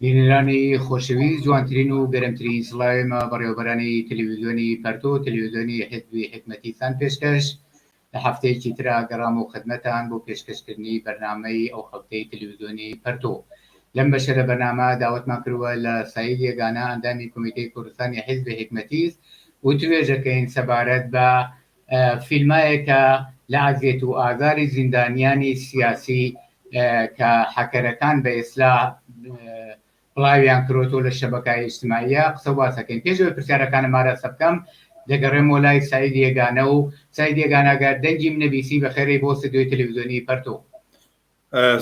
بینەرانی خۆشەویست جوانترین و گەرمترین سڵاوێمە بەڕێوەبەرانی تەلەویزیۆنی پەرتو تەلەویزیۆنی حیزبی حیکمەتیتان پێشکەش لە هەفتەیەکی ترا گەڕامەوە خدمەتان بۆ پێشکەشکردنی بەرنامەی ئەو هەفتەی تەلەویزیۆنی پەرتو لەم بەشە لە بەرنامە داوەتمان کردوە لە سەید یەگانە ئەندامی کومیتەی کوردستانی حیزبی حیکمەتیس وتوێژەکەین سەبارەت بە فیلمایەکە لە ئەزیەت و ئازاری زیندانیانی سیاسی کە حەکەرەکان بە ئیسلاح بڵاویان کرۆتۆ لە شەبەکای ئیجتماعیە قسە واسەکەین پێش ئەوەی پرسیارەکانم ئاراستە بکەم دەگەڕێمەوە لای سعید یێگانە و سعید یێگانەگەر دەنگیم نەبیسی بە خێرەی بۆ ستۆدیۆی تەلەڤیزیۆنی پەرتۆ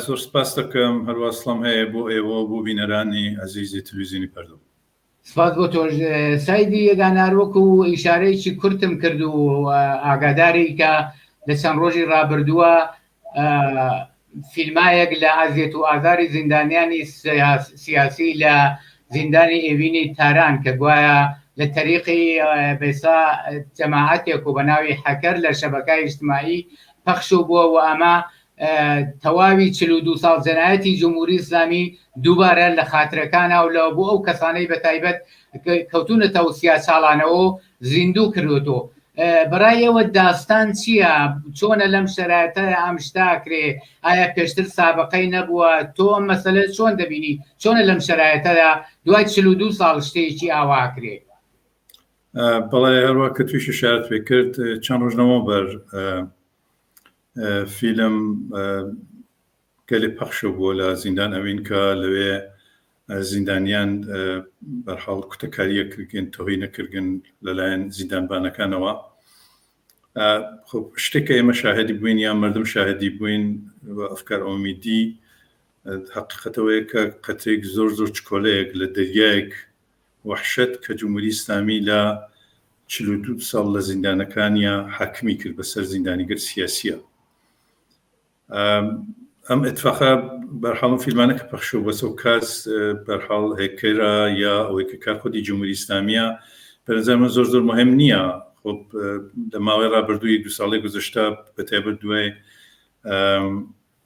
زۆر سپاس دەکەم هەروا سڵام هەیە بۆ ئێوە و بۆ بینەرانی ئەزیزی تەلەڤیزیۆنی پەرتۆ سپاس بۆ تۆش سایدی یەدانار وەکو ئیشارەیەکی کورتم کرد و ئاگاداری کە لە چەند ڕۆژی ڕابردووە فیلمایەک لە ئازیێت و ئازاری زیندانیانی سیاسی لە زیندانی ئێوینی تاران کە گوایە لە تەریقی بێسا جەماعەتێک و بە ناوی حەکەر لە شەبەکە ئیشتمایی پەخش و بووە و ئەمە تەواوی چل و دوو ساڵ جەنایەتی جمهوری ئیسلامی دووبارە لە خاترەکان هاولاوە بۆ ئەو کەسانەی بە تایبەت کەوتونەتە و سیا چاڵانەوە زیندوو کردوەوە بەڕای ئێوە داستان چییە چۆنە لەم شەرایتە ئەم شتاکرێ ئایا پێشتر سابقەی نەبووە تۆ ئەم مەسلە چۆن دەبینی چۆنە لەم شەرایەتەدا دوای چل و دوو ساڵ شتێکی ئاواکرێ بەڵێ هەروە کە تویشی شارت پێ کرد چەند ڕژنەوە بەر فیلم گەلێ پەخشە بووە لە زیندان ئەوین کە لەوێ زیندانیان بەرحاڵ کوتەکاریە کردگەن تۆهی نەکردگەن لەلایەن زیندانبانەکانەوە خب شتێکە ئێمە شاهدی بووین یان مردم شاهدی بووین ئەفکار ئۆمیدی حقیقەتەوەیە کە قەتێک زۆر زۆر چکۆلەیەک لە دەریایەک وەحشەت کە جمهوری ئیسلامی لە چل و دوو ساڵ لە زیندانەکانیا حاکمی کرد بە سەر زیندانیگەر سیاسیە ئەم اتفاقە بەرحاڵم فیلمانە کە پەخشو بەسە و کاس بەرحاڵ هێکەرە یا ئەوەی کە کار خودی جمهوری ئیسلامیە بەنظرمە زۆر زۆر مهم نییە خۆ لە ماوەی ڕابردووی دو ساڵی گوزشتە بەتێبەر دوای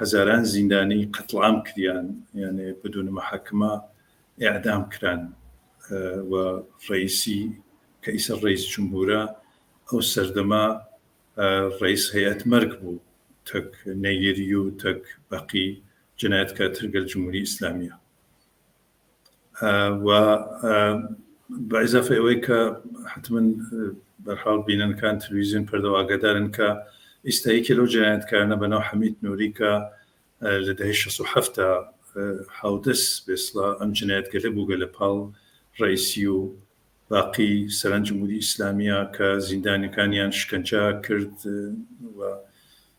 هەزاران زیندانی قەتڵام کریان یانێ بدون محاکمە ئیعدام کران و ڕەیسی کە ئیسە ڕەیس جمهورە ئەو سەردەمە ڕەیس هەیئەت مەرگ بوو تەک نەیری و تەک بەقی جنایەتکارتر گەل جمهوری ئیسلامیە. و بە ئیزافەی ئەوەی کە حەتمەن بە هەر حاڵ بینەرەکان تلویزیۆن پەردەوە ئاگادارن کە ئیستا یەکێ لەو جەنایەتکارانە بە ناو حەمید نووری کە لە دەهەی شەست و حەفت دا هاودەس بێسڵە ئەم جەنایەتگەلە بووگە لە پاڵ ڕەیسی و باقی سەران جمهوری ئیسلامییە کە زیندانیەکانیان شکەنجە کرد و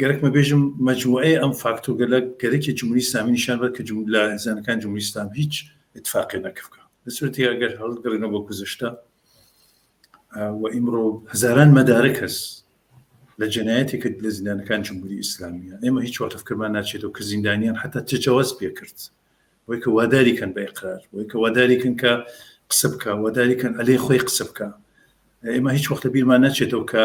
گەرەکمە بێژم مجموعەی ئەم فاکتۆگەلە گەرەکی جمهوری اسلامی نیشان بە کە جملە زانەکان جمهوری اسلام هیچ اتفاقی نەکفکە لە سورەتی ئەگەر هەڵگەڕێنەوە بۆ گوزشتە و ئیمڕۆ هزاران مەدارە کەس لە جنایەتی کرد لە زیندانەکان جمهوری ئیسلامیە ئێمە هیچ واتەفکرمان ناچێتەوە کە زیندانیان حتا تجاوز پێکرد وەی کە واداری کەن بە ئقرار وەی کە واداری کن کە قسە بکە واداری کەن ئەلێ خۆی قسە بکە ئێمە هیچ وەختە بیرمان نەچێتەوە کە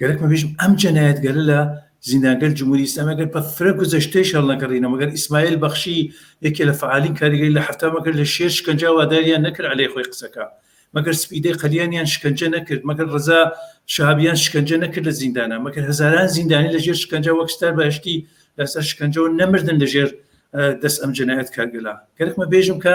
گەرەکمە بێژم ئەم جەنایەت گەرە لە زیندانگەر جمهوری ئسلام ئەگەر بە فرە گوزەشتەی شەڕنەکەڕینە مەگەر ئیسماعیل بەخشی یەکێ لە فعالین کاریگەری لە حەفتا مەگەر لە شێر شکنجا واداریان نەکرد علێ خۆی قسەکە مەگەر سپیدەی قەلیانیان شکنجە نەکرد مەگەر ڕزا شابیان شکنجە نەکرد لە زیندانە مەگەر هەزاران زیندانی لە ژێر شکنجا وەک ستار بەهشتی لەسەر شکنجەوە نەمردن لە ژێر دەست ئەم جەنایەت کارگەلا گەرکمە بێژم کە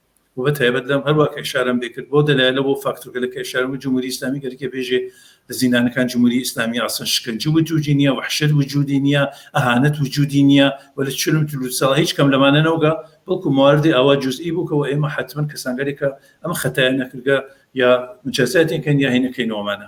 و بە تایبەت لەم هەر وا کە ئیشارەم لێ کرد بەو دەلایلە بەو فاکتورگەلە کە ئیشارەم کرد جمهوری ئیسلامی گەرەکێ بێژێ زیندانەکان جمهوری ئیسلامیە ئەسڵەن شکەنجە وجودی نیە وەحشەت وجودی نیە ئەهانەت وجودی نیە و لە چل و چل و ساڵ هیچ کەم لەمانە نەوگا بەڵکو مواردی ئاوا جزئی بوو کە وە ئێمە حەتمەن کەسانگەرێکە ئەم خەتایە نەکردگە یا مجازاتێن کەن یا هەینەکەینەوەمانە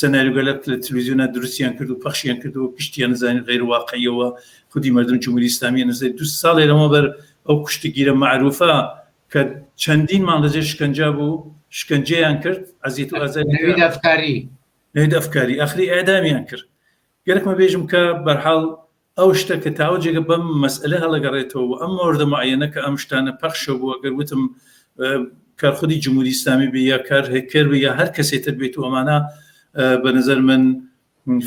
سناریۆگەلەک لە تلویزیۆنا دروستیان کرد و پەخشیان کردەوە گشتیان نزانی غەیر واقعیە وە خودی مەردم جمهوری ئیسلامیە نزیک دوو ساڵێ لەمەوبەر ئەو کوشتگیرە مەعروفە کە چەندین مانگ لەژێر شکەنجا بوو شکەنجەیان کرد ئەزیت و ئازاری نەوید ئەفکاری نەوید ئەفکاری ئاخری ئێعدامیان کرد گەرەکمە بێژم کە بەرحاڵ ئەو شتە کە تاوە جێگە بەم مەسئەلە هەڵەگەڕێتەوە و ئەم مۆردە معەیەنە کە ئەم شتانە پەخشە بووە گەر وتم کار خودی جمهوری ئیسلامی بێ یا کار هەکەر بێ یا هەر کەسێ تر بێت و ئەمانە بە نظر من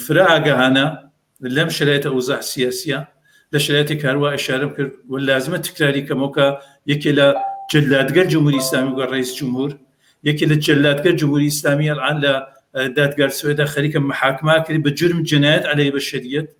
فرا ئاگەهانە لەم شرایتە ئەوزاح سیاسیە لە شرایەتی کاروا ئشارم کرد و لازمە تکراری کەمەوەکە یەکێ لە جلادگەر جمهوری ئسلامی وگە ڕیس جمهور یەکێ لە جلادگەر جمهوری ئسلامی ئەلان لە دادگار سوێدا خەریکە محاکماکرد بە جرم جنایەت عليه بە شریت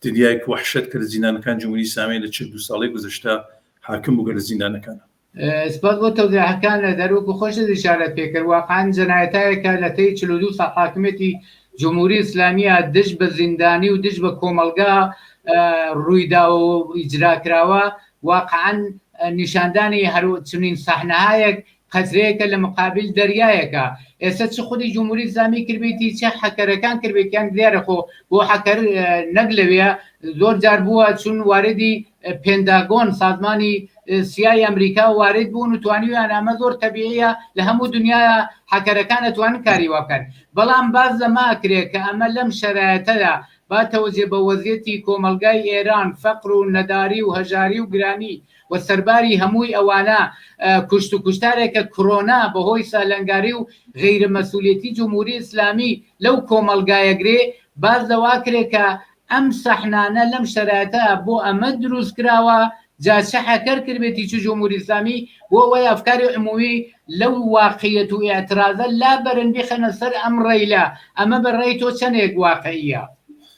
تریاک وەحشەت کە لە زیندانەکان جمهوری ئیسلامی لە چل دوو ساڵەی گوزەشتە حاکم بوو کە لە زیندانەکانە. سپاس بۆ تەوزیحەکانت، هەر وەکو خۆشت ئیشارەت پێ کرد، واقعەن جەنایەتاێکە لە تەی چل و دوو ساڵ حاکمیەتی جمهوری ئیسلامیە دژ بە زیندانی و دژ بە کۆمەڵگا رویداوە و ئیجرا کراوە، واقعەن نیشاندانی هەر چنین سەحنەهایەک قەترەیەکە لە مقابل دەریایەکا ئێستا چ خودی جمهوری ئیسلامی کردبێتی چە حەکەرەکان کردبێتیان دیارە خۆ بۆ حەکەر نەک لەوێ زۆر جار بووە چون واردی پێنداگۆن سازمانی سیای ئەمریکا وارد بوون و توانیویان ئەمە زۆر تەبیعە لە هەموو دنیا حەکەرەکان ئەتوان کاری واکەن بەڵام باز لەما کرێت کە ئەمە لەم شەرایەتەدا با تەوجێ بە وەزیەتی کۆمەلگای ئێران فەقر و نەداری و هەژاری و گرانی وە سەرباری هەمووی ئەوانە کوشت و کوشتارێکە کرۆنا بەهۆی سالنگاری و غەیرە مەسولیەتی جمهوری ئیسلامی لەو کۆمەڵگایە گرێ باس لەواکرێ کە ئەم سەحنانە لەم شەرایتە بۆ ئەمە دروست کراوە جا چ هەکەر کردبێتی چ جمهوری ئیسلامی بۆ ئەوەی ئەفکاری عمومی لەو واقعیەت و ئیعترازە لابەرن بیخەنە سەر ئەم ڕەیلە ئەمە بە ڕای تۆ چەنێک واقعیە؟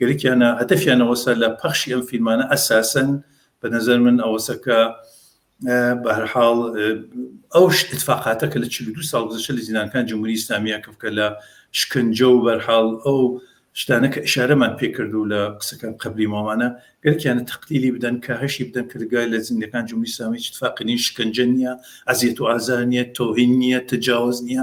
گەلێکیانە هەدەفیان ئەوەسە لە پەخشی ئەم فیلمانە ئەساسەن بە نەزەر من ئەوەسە کە بە هەرحاڵ ئەو اتفاقاتە کە لە چ دو ساڵ گزشە لە زیینانکان جمهوری ئسلامیە کە بکە لە شکنجە و بەرحاڵ ئەو شتانە کە ئشارەمان پێکرد و لە قسەکان قبلی مامانە گەرکیانە تەقلیلی بدەن کە هەشی بدەن کردگای لە زیندەکان جمهوری ئسلامی اتفاقی نیە شکنجە نیە ئەزیەت و ئازار نیە تۆهین نیە تجاوز نیە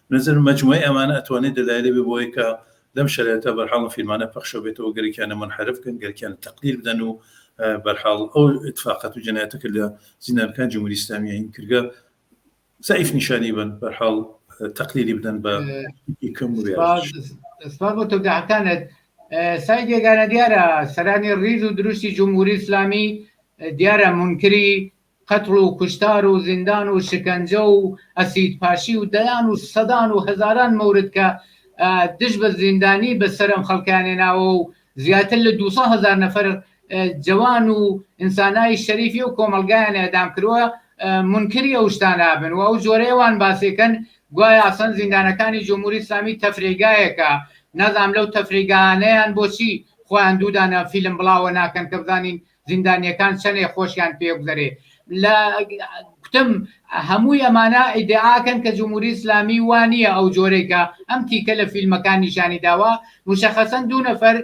بنەزەرم مەجموعەی ئەمانە ئەتوانێ دەلایلێ بێ بۆوەی کە لەم شەرایتە بەرحاڵ ئەم فیلمانە پەخشە بێتەوە گەرەکیانە مونحەرف بکەن گەرەکیانە تەقدیر بدەن و بەرحاڵ ئەو ئیتفاقات و جەنایەتە کە لە زیندانەکان جمهوری ئیسلامیە هین کردگە زەعیف نیشانی بن بەرحاڵ تەقلیلی بدەن بە کەم سپاس بۆ تۆگەعتانت سای دێگانە دیارە سەرانی ڕیز و دروستی جمهوری ئیسلامی دیارە منکری قەتڵ و کوشتار و زیندان و شکەنجە و ئەسید پاشی و دەیان و سەدان و هەزاران مۆرد کە دژ بە زیندانی بە سەر ئەم خەڵکەیان هێناوە و زیاتر لە دوو سەد هەزار نەفەر جەوان و ئینسانای شەریفی ئەو کۆمەڵگایان ئێعدام کردوە مونکری ئەو شتانە بن و ئەو جۆرەیە وان باسی کەن گوایە ئەسڵەن زیندانەکانی جمهوری ئیسلامی تەفریگایەکە نازانم لەو تەفریگایانەیان بۆچی خۆیان دوو دانە فیلم بڵاوە ناکەن کە بزانین زیندانیەکان چەنێ خۆشیان پێبگذەرێ لە کوتم هەمووی ئەمانە ئیدعاکەن کە جمهوری ئیسلامی وا نییە ئەو جۆرەی کە ئەم تیکە لە فیلمەکان نیشانی داوە مشەخەسەن دوو نەفەر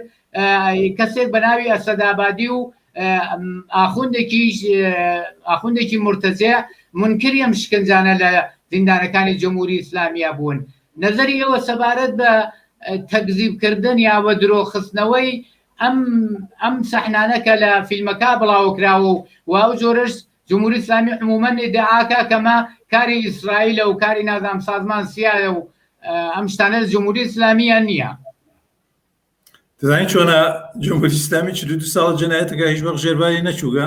کەسێک بە ناوی ئەسەدابادی و ئاخوندێکی ئاخوندێکی مرتەزێ منکری ئەم شکنجانە لە زیندانەکانی جمهوری ئیسلامیە بوون نظری ئەوە سەبارەت بە تەکزیبکردن یا بە درۆخستنەوەی ئەم ئەم سەحنانە کە لە فیلمەکە بڵاوکراوە و و ئەو جۆرەش جمهوری اسلامی عموما ادعاکە کەمە کاری ئیسرائیلە و کاری نازام سازمان سیایە و ئەم شتانە لە جمهوری اسلامیە نییە دەزانین چۆنە جمهوری اسلامی چ دو ساڵ جنایەتەکە هیچ وەق ژێرباری نەچووگە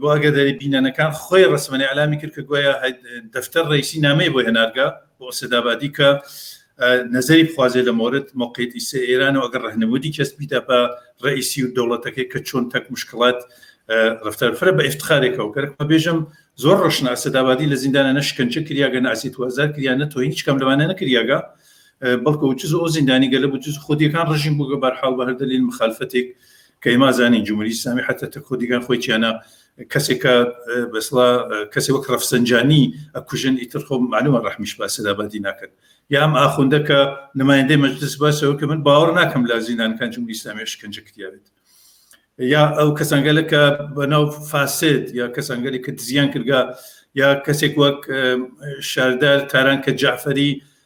بۆ ئاگاداری بینەرەکان، خۆی ڕەسمەنێ ئیعلامی کرد کە گوایە دەفتەر ڕەیسی نامەیە بۆ هێنارگە، بۆ ئەسەد ئابادی کە نەزەری بخوازێ لە مۆرد مۆقێت ئیسە ئێران و ئەگەر ڕەهنمودی کەس بیدە پە ڕەیسی و دەوڵەتەکەی کە چۆن تەک مشکڵات ڕفتار فرە بە ئفتخارێکەوە کەرک مە بێژم زۆر ڕشنە ئەسەد ئابادی لە زیندانە نەشکەنچە کریاگە ناسی توازار کریا نە تۆ هیچ کەم لەوانە نەکریاگە بەڵکە و چز ئەو زیندانی گەلە بچز خودیەکان ڕژیم بووگە بەرحاڵ بە هەردەلیل مخالفەتێک کە ئیما زانین جمهوری ئیسلامی حتی تە کۆدیگان خۆی چیانە کەسێک کە بەسڵا کەسێ وەک ڕەفسەنجانی ئەکوژن ئیتر خۆ معلومە ڕحمیش با سەدابادی ناکەن یام ئاخوندە کە نمایندەی مەجلس باسەوە کە من باوەڕ ناکەم لە زیندانکان جمهوری ئیسلامی شکنجە کردیاێت یا ئەو کەسانگەلە کە بەناو فاسد یا کەسانگەلی کە دزیان کردگا یا کەسێک وەک شاردار تاران کە جعفری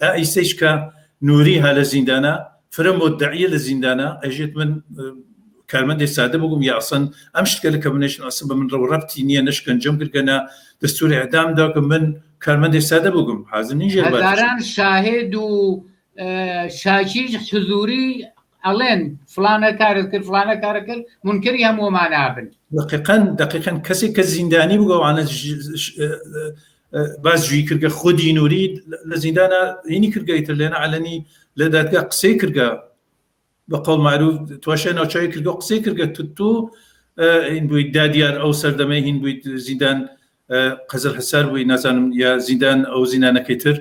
ئا ئیستەیش کە نووری ها لە زیندانە، فرە مودەعیە لە زیندانە، ئەژیت من کارمەندێ سادە بگوم یا ئەسڵەن ئەم شتگەلە کە بنەشن ئەسڵ بە من ڕەو ڕەبتی نییە نە شکەنجەم گرگە نە دەستوور ئێعدام دا کە من کارمەندێ سادە بگوم حازر نین ژێر بار هەزاران بچم. شاهێد و ئە، شاکیش حزووری ئەڵێن فڵانە کارت کرد فڵانە کارت کرد مونکەری هەمووەمانە بن. دەقیقەن دەقیقەن کەسێک کە زیندانی بگە وانە ژ ژ ئە، ئە، باس جوی کردگە خودی نوری لە زیندانە هینی کردگەی تر لێنە علەنی لە دادگا قسەی کردگە بە قەڵ معروف تواشە ناوچوی کردگە قسەی کردگە تو این بوویت دادیار ئەو سەردەمە هین بوویت زیندان قەزل حسار بووی نازانم یا زیندان ئەو زیندانەکەی تر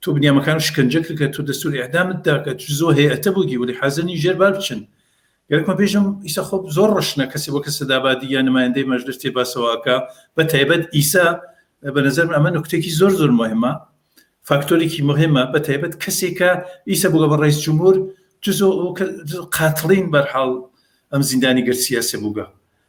تو بنیامەکان شکنجە کرد کە تو دەستور ئیعدامت دا کە چ زۆ هەیئەتە بوگی ولی حازر نین ژێر بار بچن گەرەکمە بێژم ئیسە خۆ زۆر ڕەشنە کەسی بۆ کەسە دابادی یا نمایندەی مەژلس تێ باسەوەکە بە تایبەت ئیسە بە نظر ئەمە نکتێکی زۆر زۆر مهمە فاکتۆرێکی مهمە بە تایبەت کەسێکە ئیسە بگە بە ڕیس جمهور جزۆ قاتڵین بەرحاڵ ئەم زیندانی گەر سیاسە بووگە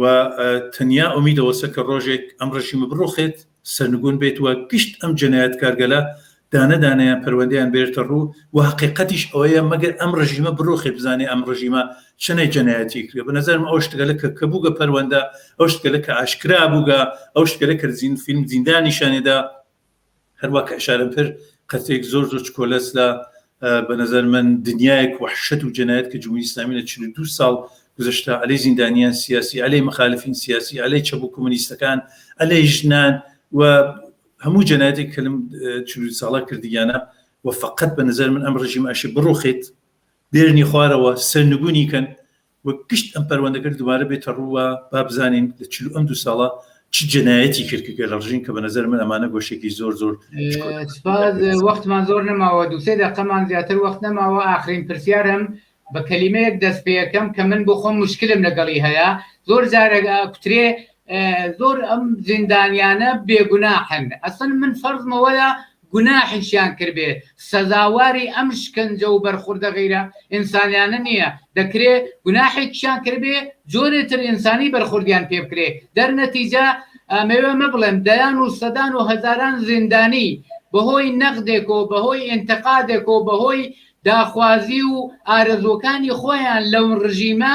و تەنیا ئومید ئەوەسە کە ڕۆژێک ئەم ڕژیمە بڕوخێت سەرنگون بێت وە گشت ئەم جەنایەت کارگەلە دانە دانیان پەروەندیان بێرتە ڕوو و حقیقەتیش ئەوەیە مەگەر ئەم ڕژیمە بڕوخێ بزانێ ئەم ڕژیمە چنەی جەنایەتی کرێ بە نظرم ئەو شتگەلە کە کە بووگە پەروەندە ئەو شتگەلە کە ئاشکرا بووگە ئەو شتگەلە کە زین فیلم زیندانیشانێدا هەروە کە ئشارم کرد قەتێک زۆر زۆر چکۆلەس لە بە نظر من دنیایەک وحشت و جنایەت کە جمهوری ئسلامی لە 42 ساڵ گزشتا ئەلی زیندانیان سیاسی ئەلی مخالفین سیاسی ئەلی چە بوو کمونیستەکان ئەلی ژنان و هەموو جنایەتێک کەلم ساڵە کردیانە و فقط بە نظر من ئەم ڕژیم ئەشی بڕوخیت بێرنی خوارەوە سەرنگونی کەن و گشت ئەم پەروەندەگەر دوبارە بێتە ڕوو وا با بزانین لە چل ئەم دوو ساڵە چ جەنایەتی کرد کە گەلەڕژین کە بە نەزەر من ئەمانە گۆشێکی زۆر زۆر وەختمان زۆر نەماوە دوسێ دەقەمان زیاتر وەخت نەماوە ئاخرین پرسیارم بە کەلیمەیەک دەست پێەکەم کە من بۆ خۆم مشکلم لەگەڵی هەیە زۆر جارێک کوترێ زۆر ئەم زیندانیانە بێگوناحن ئەسڵ من فەرزمە وەیە گوناحیشیان کردبێ سەزاواری ئەم شکەنجە و بەرخوردە غیرە ئینسانیانە نیە دەکرێ گوناحێکیشان کردبێ جۆرێ تر ئینسانی بەرخوردیان پێ بکرێ دەرنەتیجە ئەمەوێ مە بڵێم دەیان و سەدان و هەزاران زیندانی بەهۆی نەقدێک و بەهۆی ئینتقادێک و بەهۆی داخوازی و ئارەزووەکانی خۆیان لەو ڕژیمە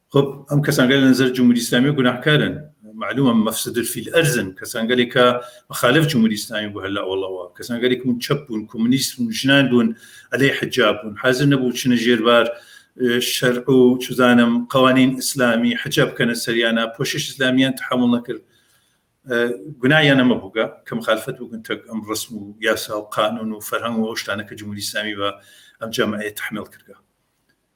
خب ئەم کەسانگە لە نظر جمهوری اسلامی گوناهکارن معلومە مفسد فی الارض کەسانگەلێک کە مخالف جمهوری اسلامی بوو هەلا وڵەوە کەسانگەلێک من چەپ بوون کۆمونیست و ژنان بوون ئەلێ حجاب بوون حاضر نەبوو چنە ژێربار شەر و چزانم قوانین ئیسلامی حجاب بکەنە سەریانە پۆشش ئسلامیان تحمل نەکرد گوناهیان ئەمە بووگە کە مخالفت بگون تەک ئەم ڕسم و یاسا و قانون و فەرهەنگ و ئەو شتانە کە جمهوری اسلامی بە ئەم جەمعەیە تحمل کردگە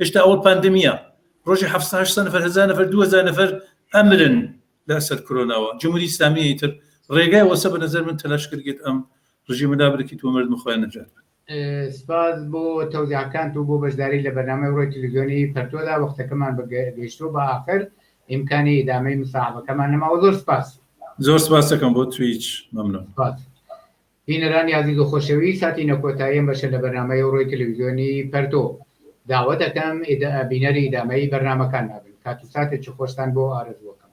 هێشتا ئەوە پاندمیە ڕۆژی حەفسە هەشت سە نەفەر هەزار نەفەر دوو هەزار نەفەر ئەمرن لەسەر کرۆناوە جمهوری ئیسلامیی تر ڕێگای وەسە بە نەزەر من تەلاش کردێت ئەم ڕژیمە دابرکی تۆ مرد مخۆیان نەجات بن سپاس بۆ تەوزیعکانت و بۆ بەشداری لە بەرنامەی ڕۆی تلویزیۆنی پەرتۆدا وەختەکەمان بە گەیشتۆ بە ئاخر ئیمکانی ئیدامەی مساعبەکەمان نەماوە زۆر سپاس زۆر سپاسەکەم بۆ تویچ مەمنم بینەرانی ئازیز و خۆشەویست هاتینە کۆتایی ئەم بەشە لە بەرنامەی ئەوڕۆی تەلەویزیۆنی پەرتۆ. داوەت ئەکەم بینەری ئیدامەی بەرنامەکانمان بن. کات و ساتێکی خۆشتان بۆ ئارەزوو ئەکەم.